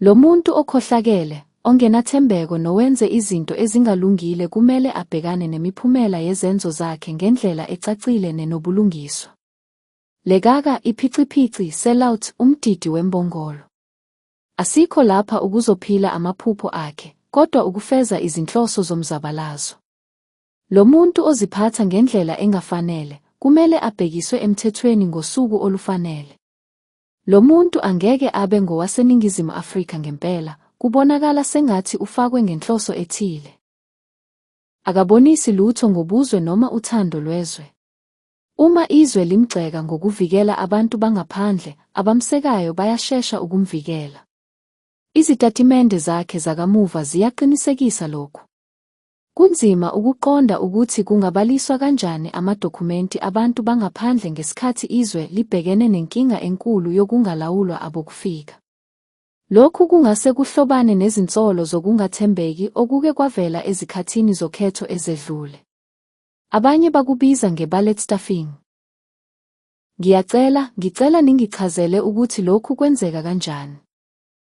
Lo muntu okhohlakele, ongenathembeko nowenze izinto ezingalungile kumele abhekane nemiphumela yezenzo zakhe ngendlela ecacile nenobulungiswa. Lekaka, iphiciphici, sellout, umdidi wembongolo. Asikho lapha ukuzophila amaphupho akhe, kodwa ukufeza izinhloso zomzabalazo. Lo muntu oziphatha ngendlela engafanele, kumele abhekiswe emthethweni ngosuku olufanele. Lo muntu angeke abe ngowaseNingizimu Afrika ngempela, kubonakala sengathi ufakwe ngenhloso ethile. Akabonisi lutho ngobuzwe noma uthando lwezwe. Uma izwe limgxeka ngokuvikela abantu bangaphandle, abamsekayo bayashesha ukumvikela. Izitatimende zakhe zakamuva ziyaqinisekisa lokhu. Kunzima ukuqonda ukuthi kungabaliswa kanjani amadokhumenti abantu bangaphandle ngesikhathi izwe libhekene nenkinga enkulu yokungalawulwa abokufika. Lokhu kungase kuhlobane nezinsolo zokungathembeki okuke kwavela ezikhathini zokhetho ezedlule. Abanye bakubiza nge-ballet stuffing. Ngiyacela, ngicela ningichazele ukuthi lokhu kwenzeka kanjani.